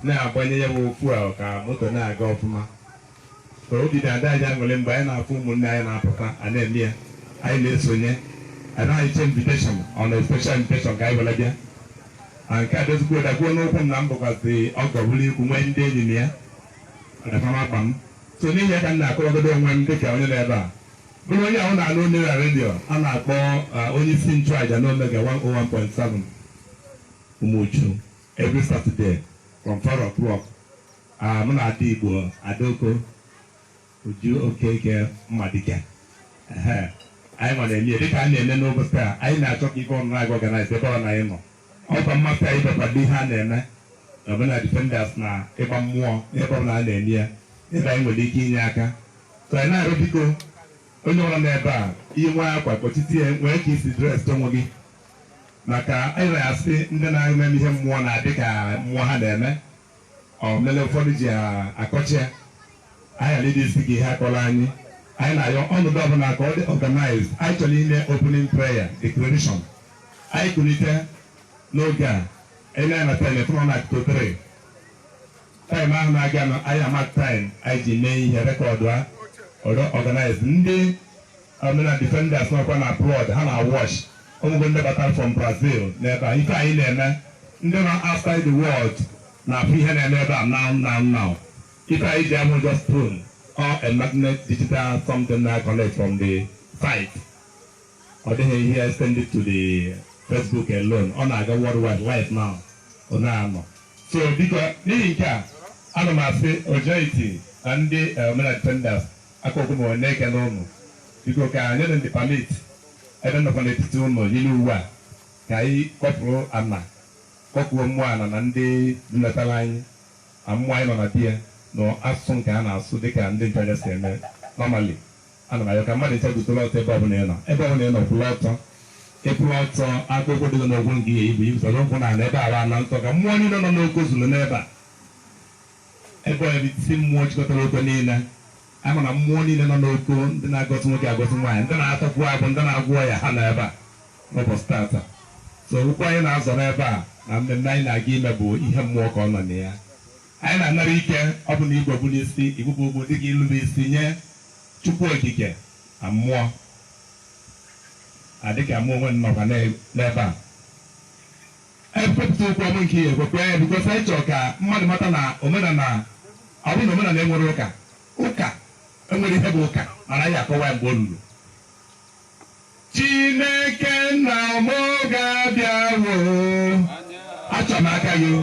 na-agbanye ya bụ okwu a ka moto na-aga ọfụma ka obi dị ada anyị aṅụrị mgbe anyị na-afụ ụmụnne anyị na-apụta a na-eme ya anyị na-esonye anaghị eche invitation on a special invitation ka anyị were bịa na nke a dozigbo dakwuo n'ụkwụ m na m bụkwazi ọgọ bụrụ ikwu nwee ndị enyi mụ na fa na-akpa m so n'ihi ya ka m na-akọwagodo onwe m dịka onye nọ ebe a bụrụ onye ahụ na-anụ onye na redio a na-akpọ onye isi nchụaja n'Omega 101.7 Umuchu every Saturday from 4 o'clock ah, mụ na ada Igbo Adaoko Uju Okeke Mmadike anyị nwa na-eme dịka a na-eme n'ụbọchị a anyị na-achọ ka ife ọnụnụ agụ organize ebe ọ na anyị nọ ọkwa mmasị anyị bịa kwado ihe a na-eme na Omenala Defenders na ịgba mmụọ n'ebe ọbụla a na-eme ya ebe anyị nwere ike inye aka so anyị na-arịọ biko onye nọ n'ebe a i nwee akwa kpọchite ya nwee ka i si dress onwe gị maka anyị na-asị ndị na-eme ihe mmụọ na-adị ka mmụọ ha na-eme ọ mere ụfọdụ ji akọcha ya anyị ghara ịdịzi ka ihe a kọrọ anyị anyị na-ayọ ọnọdụ ọbụla ka ọ dị organized anyị chọrọ ime opening prayer declaration anyị kulite n'oge a anyị na-ana tele fụnọ na akụkụ tere time ahụ na-aga nọ anyị ama time anyị ji mee ihe record ya ọ dị organized ndị Omenala Defenders nọkwa na abroad, ha na-awatch. Onwego ndị batara from Brazil n'ebe a. Ife anyị na-eme, ndị nọ outside the world na-afụ ihe na-eme ebe a now now now. Ife anyị ji abụrọ just phone or a magnet digital something na-econnect from the site. Ọ dịghị ihe extended to the Facebook alone. Ọ na-aga worldwide live now. Ọ na-anọ. So biko n'ihi nke a, ana m asị Ojoiti na ndị eh, Omenala Defenders Ka m na-ekele ụnụ. Biko ka anyị na ndị permit ebe m nọkwa n'etiti ụnụ yiri uwe a ka anyị kpọkuo ana kpọkuo mmụọ ana na ndị letara anyị na mmụọ anyị nọ n'ebe a na asụsụ nke a na-asụ dịka ndị nchụaja si eme normally. Ana m ayọ ka mmadụ ncha guzoro ọtọ ebe ọbụla ị nọ ebe ọbụla ị nọ kwụrụ ọtọ ị kwụrụ ọtọ akpụkpọ ụkwụ dị gị n'ụkwụ nke i yipụ ibusoro ụkwụ na ala ebe ala na ntọ ka mmụọ niile nọ n'Oko zuru n'ebe a Ebe isi mmụọ chịkọtara Oko niile, a ma na mmụọ niile nọ n'Oko ndị na-agọzi nwoke agọzi nwaanyị ndị na-atakwu abụ ndị na-agwọ ọya ha nọ ebe a n'ụbọchị tata so okwu anyị na-azọ n'ebe a na mmemme anyị na-aga ime bụ ihe mmụọ ka ọ nọ na ya anyị na-anara ike ọ bụ na i kpu okpu n'isi i kpupụ okpu dịka ilube isi nye Chukwu Okike na mmụọ a dịka mụ onwe m nọkwa n'ebe a Anyị kwepụta okwu mmụọ nke ihe ekwekwe ya because anyị chọrọ ka mmadụ mata na omenala ọ bụrụ na omenala e nwere ụka ụka e nwere ihe bụ ụka mana anyị akọwa ya mgbe o ruru Chineke nna m ga-abịawo achọrọ m aka gị o.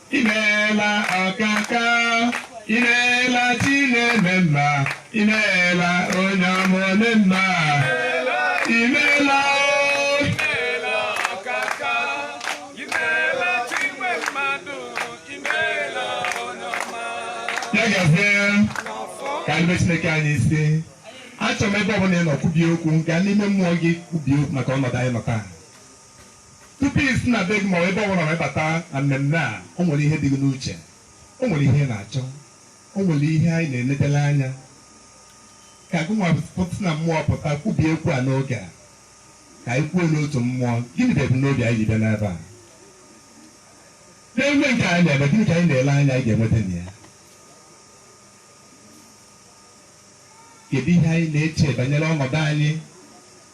imeela ọkaka imeela chi na-eme mma imeela onye ọma ome mma imeela ya gazie ka ndị chineke anyị isi achọrọ m ebe ọbụla ị nọ kwubie okwu gaa n'ime mmụọ gị kwubie okwu maka ọnọdụ anyị nọ taa Tupu i si na be gị ma ọ bụ ebe ọbụla wee bata na mmemme a, o nwere ihe dị gị n'uche, o nwere ihe ị na-achọ, o nwere ihe anyị na-enedere anya ka gị nwa pụta na mmụọ pụta kwubie okwu a n'oge a ka anyị kwuo n'otu mmụọ gịnị bụ ebumnobi anyị ji bịa n'ebe a n'emume nke anyị na-eme gịnị ka anyị na-ele anya anyị ga-enweta na ya kedu ihe anyị na-eche banyere ọnọdụ anyị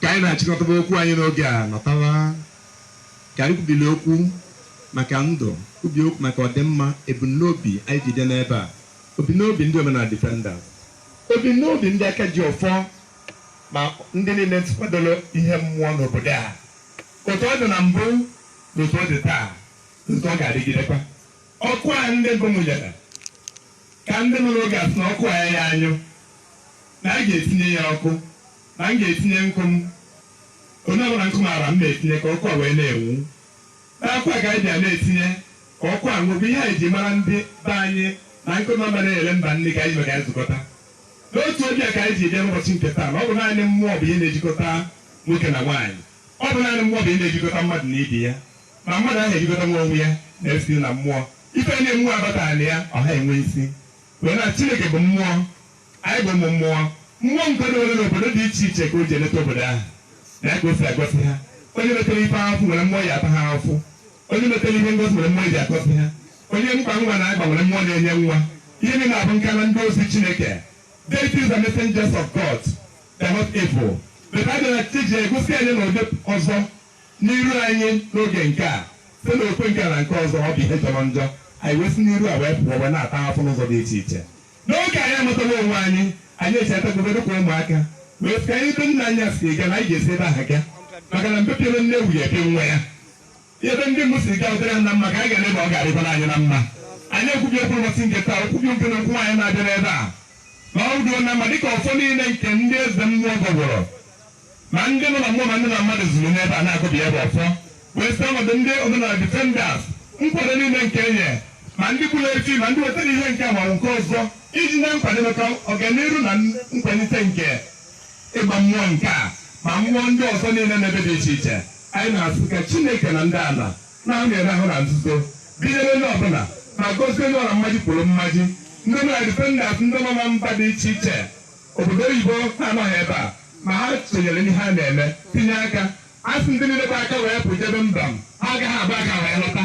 ka anyị na-achịkọtaba okwu anyị n'oge a nọtawa ka anyị kwubili okwu maka ndụ kwubi okwu maka ọdịmma ebumnobi anyị ji bịa n'ebe a ebumnobi ndị omenala defender ebumnobi ndị aka ji ọfọ ma ndị niile kwadoro ihe mmụọ n'obodo a, otu ọ dị na mbụ na otu ọ dị taa na otu ọ ga-adịgidekwa. Ọkụ a ndị mbụ mụnyere ka ndị nọ n'oge a sị na ọkụ a ya ya anyụ, na a ga-etinye ya ọkụ, na m ga-etinye nkụ m, onye ọbụla nkụ maara m na-etinye ka ọkụ a wee na-enwu. N'akwa a ka anyị bịa na-etinye ka ọkụ a nwuo, bụ ihe anyị ji mara ndị be anyị na nkụ nọ mba na-eghere mba nri ka anyị ji maka ya zukọta. N'otu obi a ka anyị ji bịa n'ụbọchị nke taa, na ọ bụ naanị mmụọ bụ ihe na-ejikọta nwoke na nwaanyị. Ọ bụ naanị mmụọ bụ ihe na-ejikọta mmadụ na ibe ya. Ma mmadụ ahụ ejikọtanwu onwe ya na ya site na mmụọ. Ife niile mmụọ abataghị na ya, ọ ha enwe isi. Wee na Chineke bụ mmụọ, anyị bụ ụmụ mmụọ. Mmụọ nke dowere n'obodo dị iche iche ka o ji eleta obodo ahụ, na ya ka o si agọzi ha. Onye metere ife ahụfụ e nwere mmụọ ya-ata ha ahụfụ. Onye metere ihe ngosi nwere mmụọ eji akọsi ha. Onye nkwa nwa na-agba nwere mmụọ na-enye nwa. Ihe niile a bụ nka na ndị ozi Chineke. Deities are messengers of God. They are not evil. But a bịara chi ji egosi anyị n'ụdị ọzọ n'iru anyị n'oge nke a site na okwe nke a na nke ọzọ ọ bụ ihe jọrọ njọ anyị wee si n'iru a wee pụọ wee na-ata afụfụ n'ụzọ dị iche iche n'oge anyị amatawa onwe anyị anyị echetagobe dịka ụmụaka wee sị ka anyị ebe nna anyị ha si ga na anyị ga-esi ebe ahụ ga maka na mgbe pịara nne ewu ya ebe nwa ya ebe ndị mbụ siri gaa dịrị na mma ka anyị ga-eme ma ọ ga-adịkwara anyị na mma anyị ekwubi okwu ụbọchị nke taa okwubi nke na okwu anyị na-abịa n'ebe a ma ọ ruo na mma dịka ọfọ niile nke ndị eze mmụọ gọgoro ma ndị nọ na mmụọ ma ndị na mmadụ zuru n'ebe a na-agụbi ebe ọfọ wee site ọnọdụ ndị omenala defenders nkwado niile nke e nyere ma ndị kpụrụ efi ma ndị wetara ihe nke a ma nke ọzọ iji na nkwado maka ọganihu na nkwalite nke ịgba mmụọ nke a ma mmụọ ndị ọzọ niile n'ebe dị iche iche Anyị na-asị ka Chineke na ndị ala na-amịrị ahụ na nzuzo binyere onye ọbụla ma gozie onye ọbụla mmaji kwuru mmaji ndị omenala defenders ndị nọ na mba dị iche iche obodo oyibo na-anọghị ebe a ma ha sonyere n'ihe a na-eme tinye aka a sị ndị niile gba aka wee pụ jebe mba m ha agaghị agba aka wee lọta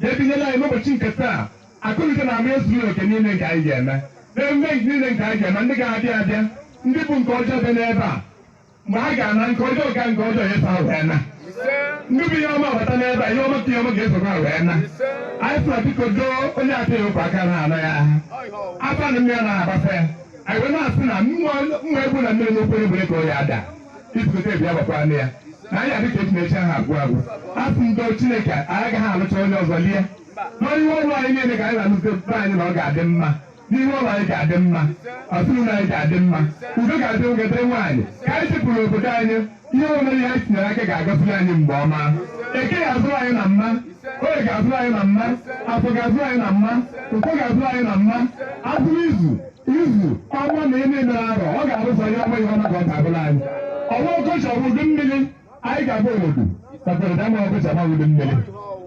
ga-ebinyere anyị n'ụbọchị nke taa akụnụke na ama ezuru oke niile nke anyị ga-eme n'emume niile nke anyị ga-eme ndị ga-abịa abịa ndị bu nke ọjọọ bịa n'ebe a mgbe ha ga-ana nke ọjọọ ka nke ọjọọ eso ha wee na ndị bu ihe ọma bata n'ebe a ihe ọma ka ihe ọma ga-eso ha wee na anyị sịrị biko doo onye ataghị ụkwa aka na anọ ya afọ na mmiri na-agbasa ya anyị wee na-asị na mma egwu na mmiri n'okpere bụrụ ka onye ada ibute bịa gbakwa nne ya na anyị adịka echi na echi aha agwụ agwụ asị ndo chineke anyị agaghị alụcha onye ọzọ lie n'ọrụ ihe ụlọ anyị niile ka anyị na-alụte be anyị na ọ ga-adị mma n'ihe ụlọ anyị ga-adị mma ọtụrụna anyị ga-adị mma udo ga-adị nwoke dịrị nwaanyị ka anyị chịpụrụ obodo anyị ihe ọbụla anyị tinyere aka ga-agaziri anyị mgbe ọma eke ga-azụrụ anyị na mma oye ga-azụrụ anyị na mma afọ ga-azụrụ anyị na mma nkwọ ga-azụrụ anyị na mma azụrụ izu izu ọnwa na ime mere arọ ọ ga-arụsa ya ọnwa ihe ọma ka ọ ga-abụlụ anyị ọnwa ọkọchị ọ bụ udu mmiri anyị ga-abụ obodo kpatara na ọnwa ọkọchị ọ bụ udu mmiri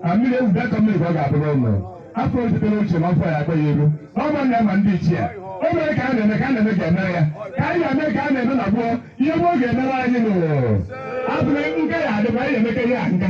a mmiri ewu bịa ka mmiri ka ọ ga-abụrụ ụlọ afọ ojutere ochie na ọfọ ya akpa ya elu ọ bụ na ma ndị ichie o mere ka a na-eme ka a na-eme ga-emere ya ka anyị ga-eme ka a na-eme na gboo ihe gboo ga-emere anyị n'ụwa abụghị nke ya adịba anyị ga-emeke ihe a nka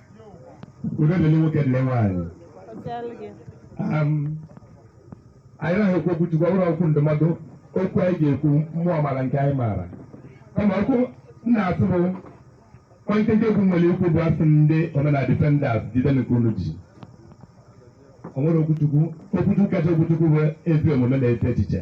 udo dịrị nwoke dịrị nwaanyị Um, anyị naghị ekwu okwu chukwu ọ bụrụ okwu ndụmọdụ okwu anyị ga-ekwu mmụọ mara nke anyị maara kama okwu m na-asụ bụ onye nkenke okwu m nwere ikwu bụ a sị ndị omenala defenders jide nke unu ji o nwere okwuchukwu okwuchukwu kacha okwuchukwu bụ ezi omume na-eche echiche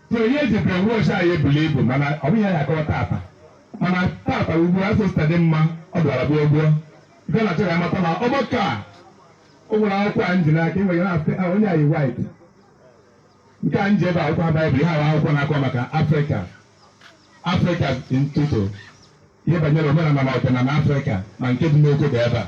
So ihe eji brainwash anyị bulu ibu mana ọ bụghị ya akọwa tata mana tata ugbu a sosta dị mma ọ bịara gbuo gbuo nke na chọrọ amata na ọgbakọ a o nwere akwụkwọ a m ji n'aka enwere na-asị "Ah, onye anyị wit nke a nji ebe akwụkwọ ha baịbụl ha bụ akwụkwọ na-akọ maka afrịka afrịka ọtụtụ ihe banyere omenala na ọdịnala afrịka na nke dị n'obodo ebe a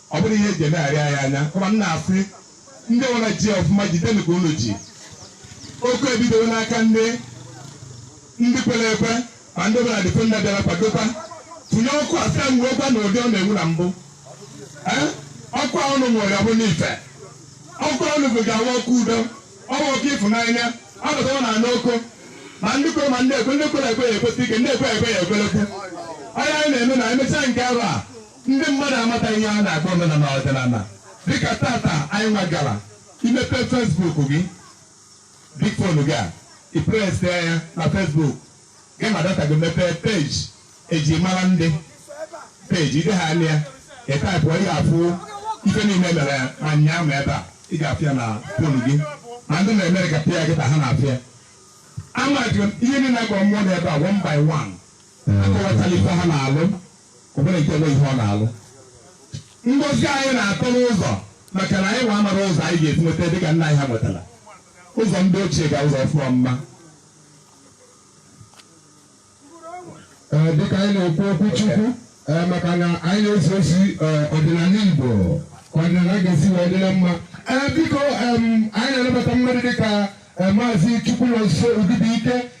Ọ bụrụ ihe eji emegharị anyị anya, kama m na-asị ndị nwere ji ọfụma jidenu ka unu ji. Ọkụ ebidowo n'aka ndị ndị kwere ekwe ma ndị ọbụla dịfe nna bịara kwadokwa tụnye ọkụ a sị ya nwuokwa na ụdị ọ na-enwu na mbụ. Ee, ọkụ a unu nwere ọ bụ n'ife. Ọkụ a unu bụ ga-awa ọkụ udo, ọ bụ ọkụ ịfụnanya, ọ bụtawa na anụ ọkụ. Ma ndị kwere ma ndị ekwe, ndị kwere ekwe ya ekwesie ike, ndị ekwe ekwe ya ekwelekwu. Onye anyị na-eme na emechaa nke arọ a, Ndị mmadụ amataghị ihe a na-akpọ omenala ọdịnala dịka tata anyị nwagara imepe Facebook gị big phone gị a ị presịa ya na Facebook gị ma data gị mepee peji eji mara ndị peji ide ha anya ị taịpụ ị ga-afụ ife niile mere ma nyaa ma ebe a ị ga-afụ ya na fon gị ma ndị na-emere ka pịa gị ka ha na-afụ ya ama jụrụ ihe niile agwa mmụọ na ebe a one by one akọwatala ife ha na-alụ o nwere nke onwe ihe ọ na-alụ ngozi anyị na-atọ n'ụzọ maka na anyị nwa amara ụzọ anyị ga-esi nweta dị ka nna anyị ha nwetara ụzọ ndị ochie ga ụzọ ọfụma mma Ee, dịka anyị na-ekwu okwu chukwu ee, maka na anyị na-esi osi ee, ọdịnala igbo ka ọdịnala ga-esi wee dịrị mma ee biko em, anyị na-anabata mmadụ dịka ee, maazị Chukwunọnso Obibuike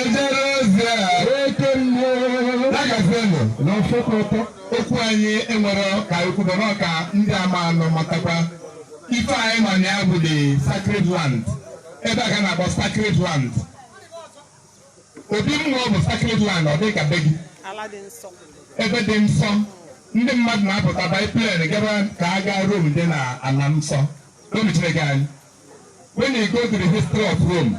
ejere ozi a oke mmụọ agafenụ na ọfọkọtọ okwu anyị nwere ka ekwudo na ọka ndị amarọ matakwa ife anyị ma na ya bụ the sacred land ebe a ka a na-akpọ sacred land obi mmụọ bụ sacred land ọ dị ka be gị ebe dị nsọ ndị mmadụ na-apụta baa plane gaba ka a gaa Rome dị na ana nsọ Rome Chineke anyị when you go to the history of Rome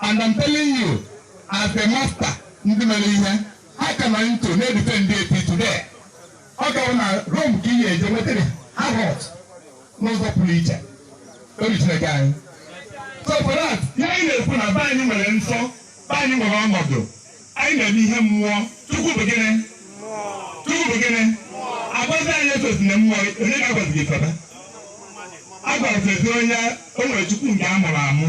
And I'm telling you, as a master, ndị mere ihe, ha ka nọ into na-edufe ndị till today. Ọ kwa na Rome ka ihe eje nwetara ha hot n'ụzọ pụrụ iche. Obi Chineke anyị. So for that, ihe anyị na-ekwu na be anyị nwere nsọ, be anyị nwere ọnọdụ, anyị na-eme ihe mmụọ, Chukwu bụ gịnị? Chukwu bụ gịnị? A gwazi anyị esozina mmụọ, onye ka a gwazi gị febe? A gwazi anyị o nwere Chukwu nke a mụrụ amụ.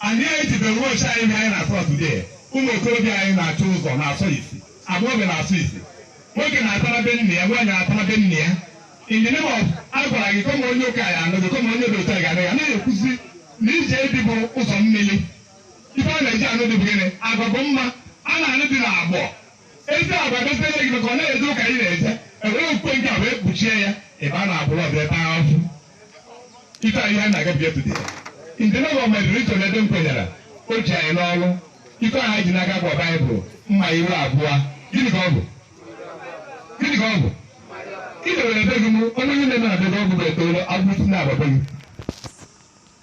Anyị ejide wọchị anyị ihe anyị na-asọ today. Ụmụ okorobịa anyị na-achọ ụzọ na-asọ isi. Agbọghọbịa na-asọ isi. Nwoke na-atara be nne ya, nwaanyị na-atara be nne ya. In the name of a gwara gị kama onye ụka ya anụghị, kama onye dị otu a ga-anụ ya. Anaghị ekwuzi na ije di bụ ụzọ mmiri. Ife a na-eji anụ di bụ gịnị? Agwa bụ mma. A na-anụ di n'agbọ. Ezi agwa gọziere gị maka ọ na-eje ụka ị na-eje. Ewere okpukpe nke a wee kpuchie ya. Ebe a na-abụrụ ọbịa ebe ahụ. ife anyị na-agabiga today in the name of my religion ebe m kwenyere o ji anyị n'oru ife ahụ anyị ji n'aka bụ baịbụl mma iru abụọ gịnị ka ọ bụ gịnị ka ọ bụ ị dewere be gị mụ onye onye na-eme na be gị ọgwụ bụ etoolo agwụsị na-agbagbe gị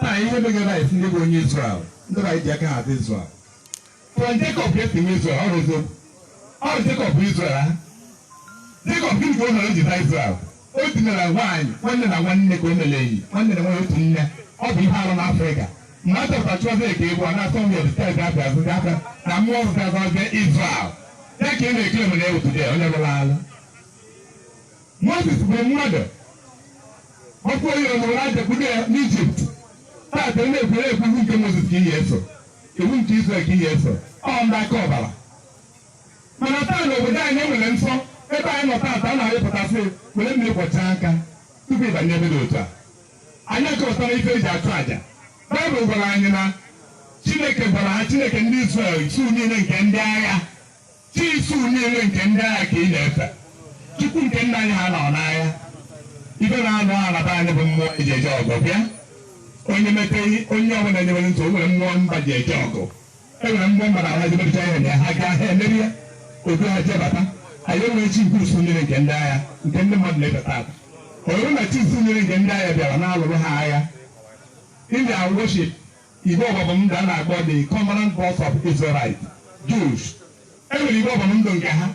Taa ihe megara anyị si ndị bụ onye Izrel ndị bụ anyị ji aka ha dị Izrel through Jekọb ka e si nwee Izrel ọ rụzo ọ bụ Jekọb bụ Izrel ahụ Jekọb gịnị ka o mere o ji na Izrel o dinara nwaanyị nwanne na nwanne ka o mere enyi nwanne na nwanne otu nne ọ bụ ihe arụ n'Afrịka mgbe a chọpụtara chụọzi eke ịbụ a na-asọ nwunye dị steeti abịa azụ ndị aka na mmụọ ọzụzụ azụ ọzọ Izrel ya ka ị na-ekele mere ya otu dị onye rụrụ alụ Moses gburu mmadụ ọchụ onye o buru aja kpudo ya n'Ijipt taata onye ekwere ekwu iwu nke Moses ka ị na-eso iwu nke Israel ka ị na-eso ọ ndị aka ọbara mana taa na obodo anyị enwere nsọ ebe anyị nọ taata a na-arịpụtasị were mmiri kwọchaa aka tupu ịbanye ebe dị otu a anyị achọpụtara ife eji achụ àjà Baịbụl gwara anyị na Chineke gwara ha Chineke ndị Israel usu niile nke ndị agha Chi usu niile nke ndị agha ka ị na-efe, Chukwu nke nna anyị ha nọ n'agha. Ife na-anụ agha na be anyị bụ mmụọ eji eje ọgụ bịa. Onye meteghị onye ọbụla nyewere ntị, o nwere mmụọ mba ji eje ọgụ. E nwere mmụọ mba na ha jebecha ihe na ha gaa ha emeri ya, otu ha jebata. Anyị enwere chi nke usu niile nke ndị agha nke ndị mmadụ na-efe taata. Ọ bụrụ na chi usu niile nke ndị agha bịara na-alụrụ ha agha, ị ga-awụchi Igbe ọgbụgba ndụ a na-akpọ the covenant box of Israelite Jews. E nwere igbe ọgbụgba ndụ nke ha.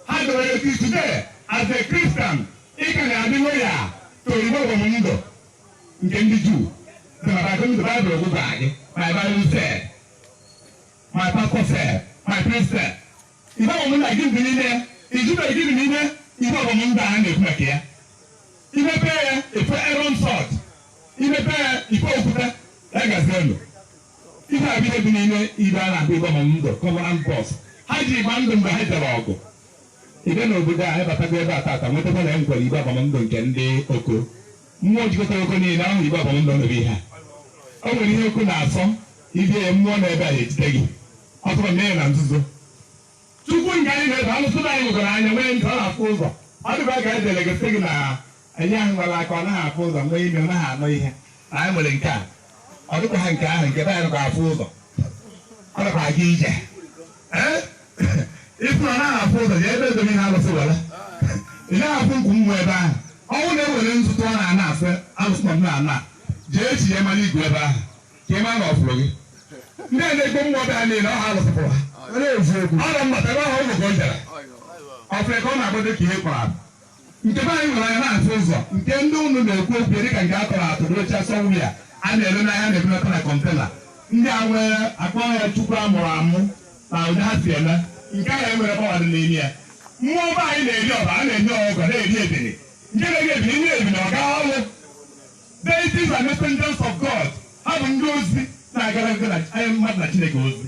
Ha dọrọ eti today as a Christian ị ka na-adị loyal to igbe ọgbụgba ndụ nke ndị Juu. The Bible, the Bible will go back. My Bible said, my pastor said, my priest said. Igbe ọgbụgba ndụ a gịnị dị n'ime ya? Ị jụbeghị gịnị dị n'ime igbe ọgbụgba ndụ a a na-ekwu maka ya? I mepe ya ị fụ Erọn's rod, i mepe ya ị fụ okwute ya gazi elu. Ife a bụ ihe dị n'ime igbe a na-akpọ igbe ọgbụgba ndụ covenant box. Ha ji agba ndụ mgbe ha jere ọgụ. Ị bịa n'obodo a ịbatago ebe a taata wọtakwa na e nwekwere igbe ọgbụgba ndụ nke ndị Oko. Mmụọ jikọtara Oko niile ahụ igwe abalị nọ n'obi ha. O nwere ihe Oko na-asọ i mee ya mmụọ nwe ebe a na-ejide gị ọ bụrụ i mee na nzuzo. Chukwu nke anyị na-efe alụsị nna anyị nwekwara anya nwee ntị ọ na-afụ ụzọ ọ dịkwa ka e dere gị sị gị na anyị ahụ nwere anya ọ naghị afụ ụzọ nwee imi ọ naghị anụ ihe na anyị nwere nke a ọ dịkwa ha nke ahụ nke be anyị afụ ụzọ ọ dịkwa aga ije ịfụ na naghị afụ ụzọ ya ebe edomi ha alụsị were ị naghị afụ nkwu nwa ebe ahụ ọnwụ na-ewere nzu tụ ọ na-ana asị alụsị nọ na ana jee echi ya mara igwe ebe ahụ ka ị mara na ọfụrụ gị ndị a na-egbo mmụọ bịa niile ọ ha alụsị pụrụ ha ọ na eziokwu ọ na mmata ebe ahụ ụlọ ka ọ jara ọfụrụ ka ọ na-agbado ka ihe kpọrọ abụ Nke be anyị nwere anya na-afụ ụzọ nke ndị ụnụ na-ekwu okwu dịka nke a tọrọ atọ n'oche sọwụya a na-ere n'ahịa na-ebunata na container ndị a nwere akpọ ya chukwu a mụrụ amụ na ụdị ha si eme nke a na-enwere power dị n'ime ya mmụọ be anyị na-eri ọbara na-enye ọgọ na-eri ebili nke na-eri ebili nye ebili ọ gaa ọrụ deities and messengers of God ha bụ ndị ozi na-agara ndị na- anyị mmadụ na Chineke ozi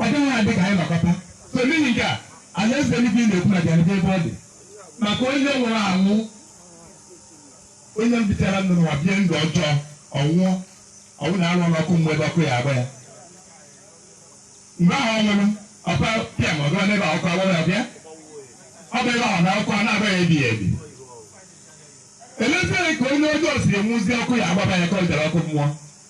Ọ gaghị adị ka anyị nọkọta. So n'ihi nke a, alaeze eluigwe ị na-ekwu na bịarịta ebe ọ dị maka onye nwụrụ anwụ, onye bitara ndụ n'ụwa bie ndụ ọjọọ, ọ nwụọ, ọ bụ na arụ ọrụ ọkụ mmụọ ebe ọkụ ya agba ya. Mgbe ahụ ọ nwụrụ, ọkwa pịam ọ gawa n'ebe a ọkụ agbawa ya bịa. Ọ bụ ebe ahụ na ọkụ a na-agba ya ebighị ebi. Elezie ka onye ọjọọ si anwụzi ọkụ ya agbaba ya ka ọ bịara ọkụ mmụọ.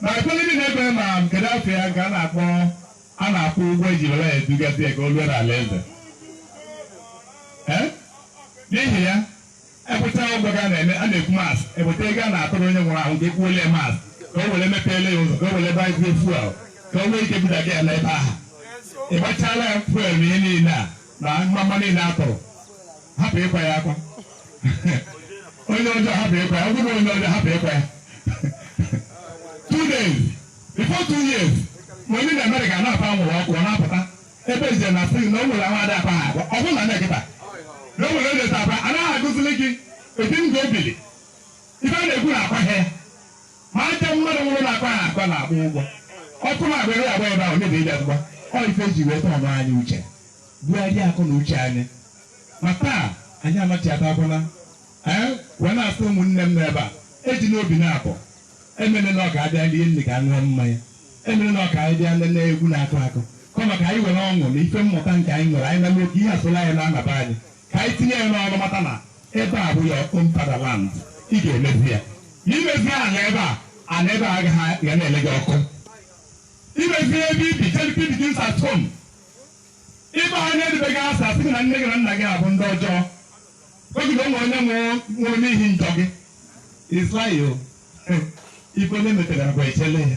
Mana ụfọdụ ndị na-ekwe ma kedu afa ya nke a na-akpọ a na-akwụ ụgwọ eji were ya edugasị ya ka o ruo n'ala eze. Ee? N'ihi ya, ekweta ụgwọ ka a na-eme a na-ekwu mass eweta ego a na-atụrụ onye nwụrụ anwụ ka ekwuole ya mass ka o were mepeele ya ụzọ ka o were gbazie fuel ka o nwee ike budaga ya n'ebe ahụ. Ị gbachala ya fuel na ihe niile a na mgbamgba niile a tụrụ hapụ ịkwa ya akwa onye ọjọọ hapụ ịkwa ya ọ bụrụ onye ọjọọ hapụ ịkwa ya two days before two years ma onye nọ America na-apa nwụrụ ọkụ ọ na-apụta ebe eje na fri na o nwere ahụ ada akwa ha akwa ọ bụrụ na e meketa na o nwere onye ta akpa anaghị agụzili gị edi ndụ obili ife a na-ekwu na akwa ha ya Ma aja mmadụ nwụrụ na-akwa ya akwa na-akwụ ụgwọ. Ọkụ na agbịrị agba ebe ahụ mebiri ya ngwa. Ọ ife ji wee tọọ anyị uche. Bugharịa akọ na uche anyị. Ma taa, anyị amachiatakwana. Ee, wee na-asị ụmụnne m nọ ebe a, ejina obi naabọ. Emene na ọ ka abịa rie nri ka ṅụọ mmanya. Emene na ọ ka anyị bịa nene egwu na-akụ akụ. Kama ka anyị were ọṅụ na ife mmụta nke anyị nwere, anyị na-eme ka ihe asụla anyị na-anaba anyị. Ka anyị tinye ya n'ọnụ mata na ebe a bụ your own fatherland ị ga-emezi ya ma i mezie ala ebe a ala ebe a agaghị ga na-ele gị ọkụ i mezie ebe i bi charity begins at home ịba onye dịbe gị asa asị gị na nne gị na nna gị abụ ndị ọjọọ oge na o nwe onye nwụrụ n'ihi njọ gị is a lie o ife onye metere bụ echele ya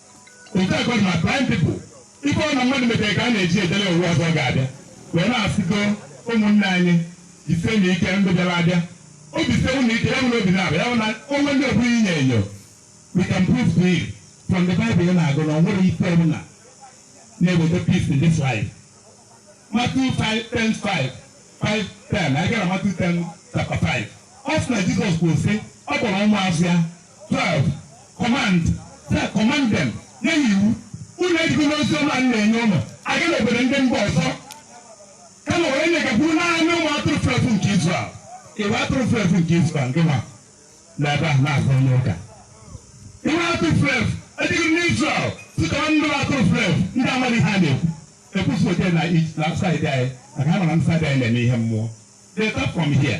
Otu a ka ọ dị na blind people. Ife ọ na mmadụ metere ka a na-eji edele ụwa ọzọ ọ ga-abịa wee na-asịgo ụmụnne anyị jisienụ ike ndị bịara abịa obi sie unu ike ya bụ na obi na-abịa ya bụ na o nwee ndị ọbụla na-enyo enyo we can prove to you from the Bible ị na-agụ na o nwere ife ọbụla na-eweta peace in this life Matthew 5 10 5 5 10 anyị gaa Matthew 10 chapter 5 ọ sị na Jesus kwuru sị ọ kpọrọ ụmụazụ ya 12 command say command them nye ha iwu unu ejikwana ozi ọma m na-enye unu aga na obodo ndị mba ọzọ kama were ya gakwuru naanị ụmụ atụrụ fulu efu nke Israel igwe atụrụ fulu efu nke Israel gị ma na ebe a na-azụ onye ụka igwe atụrụ fulu efu ejigo n'Israel site na ndị atụrụ fulu efu ndị amaghị ha na-ekwu ekwusi ote na side anyị maka ha mara ndị side anyị na-eme ihe mmụọ they come from here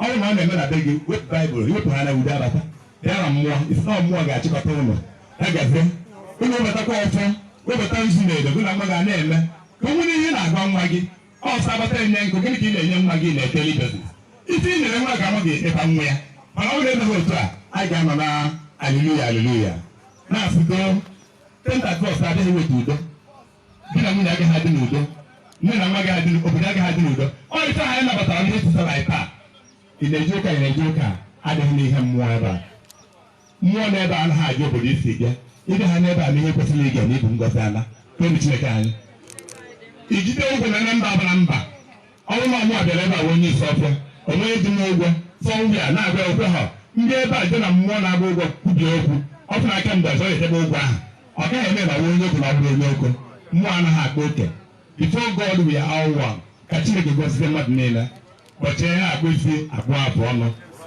ọ bụrụ na ọ na-eme na be gị wepụ Bible i wepụ ha na udo abata bịa na mmụọ isi na mmụọ ga-achịkọta ụlọ ya gazie ụlọ webatakwa ọfọ webata nzu na edo gị na nwa gị a na-eme ka o nwere ihe na-agwa nwa gị ọsọ abata enye nkụ gịnị ka ị na-enye nwa gị na-ekele idozi isi ị nyere nwa ka nwa gị ịba nwa ya mana ọ bụrụ e meghị otu a a ga-anọ na aliluya aliluya na-asụdo tenta kros adịghị eweta udo di na nwunye agaghị adị n'udo nne na nwa agaghị adị n'udo, obodo agaghị adị n'udo ọ ife a anyị nabatara ndị esi sara taa ị na-eje ụka ị na-eje ụka adịghị n'ihe mmụọ ebe a mmụọ n'ebe a anaghị ajụ obodo i si bịa ị bịa ha n'ebe a na ihe kwesịrị ị ga na-ebu ngozi ala kpenu chineke anyị ijide ụgwọ na na mba abụla mba ọ bụrụ na mụ abịara ebe a bụ onye isi ọfịa o nweghị dị m ụgwọ sọ ndị a na-agwa okwu ha ndị ebe a dị na mmụọ na-agba ụgwọ kwubie okwu ọ fụrụ aka mgbe ọzọ etebe ụgwọ ahụ ọ gaghị eme na onye ukwu na ọ bụrụ onye ukwu mmụọ anaghị akpa oke before God we are all one ka Chineke gọzie mmadụ niile ụbọchị ihe akpụ isi akpụ afụ ọnụ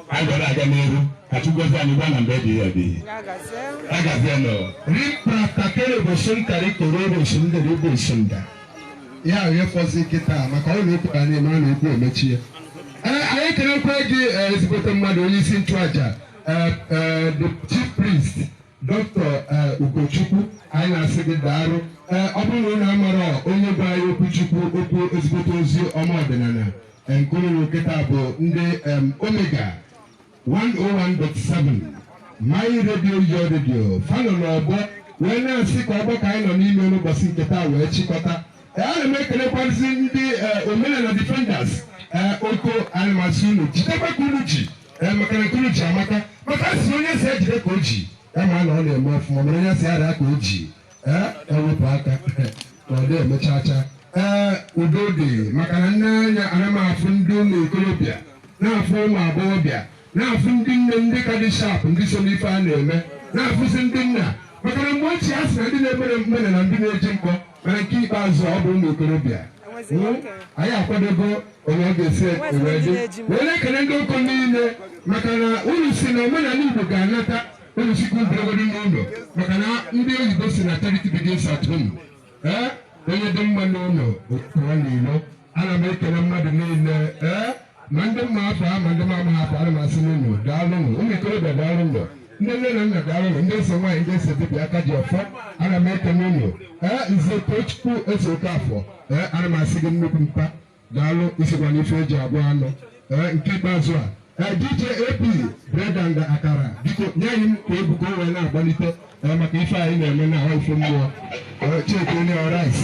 ka anyị gwara aga n'elu ka Chukwu gọzie anyị ruo na mgbe ebighị ebi agazie n'ụwa Ripra kakere bosun kari koro bosun dere bosun da. ya ahụ efọzi kịta maka ọ na-ekwu ka anyị mara na okwu emechie ee anyị ekelekwa gị ee, ezigbote mmadụ onye isi nchụaja ee, ee, the chief priest doctor ee, Ugochukwu anyị na-asị gị daalụ ee ọ bụrụ na unu amara onye gwara anyị okwu chukwu okwu ezigbote ozi ọma ọdịnala ee, nke unu kịta bụ ndị em, Omega 101.7 My Radio Your Radio fa nọ n'ọgbọ wee na-asị ka ọgbọ ka anyị nọ n'ime n'ụbọchị nke taa wee chịkọta Ee, ana m ekelekwazi ndị ee, omenala defenders ee, otu anyị na-asị unu jidekwa ka unu ji ee, maka na nke unu ji amaka maka a sị na onye a sị ya jide ka o ji ya ma na ọ na-eme ọfụma mana onye a sị ya raa ka o ji ee ewepụ aka ka ọ dị emechacha ee udo dị maka na m nee anya ana m afụ ndị ụmụ ikorobịa na-afụ ụmụ agbọghọbịa na-afụ ndị nne ndị ka dị sharp ndị so n'ife a na-eme na-afụzi ndị nna maka na mgbe ochie a sị na ndị na-emere mgbere na ndị na-eji mkpọ mana nke ikpeazụ ọ bụ ụmụ ikorobịa Hmm? anyị akwadogo onye ọ ga-esi ewedị wee na-ekele ndị ụkọ niile maka na unu sị na omenanị Igbo ga-anata unu sị ka ọ bụrụgodị n'ụlọ maka na ndị oyibo sị na charity begins at home ee onye dị mma n'ụlọ pụọ n'ilo ana m ekele mmadụ niile ee ma ndị m ma afa ha ma ndị m amaghị afa ana m asị unu daalụnụ ụmụ ikorobịa daalụnụ ndị nne na nna daalụnụ ndị eze nwaanyị ndị eze dibịa aka ji ọfọ ana m ekele unu ee nze Tochukwu Ezeokafọ ee ana m asị gị nnukwu mpa daalụ ị sịkwa na ife e ji abụọ anụ ee nke ikpeazụ a ee DJ AP bread and akara biko nye anyị egwu ka o wee na-agbalite ee maka ife anyị na-eme na ahụ ife mmụọ ee cheke onye rice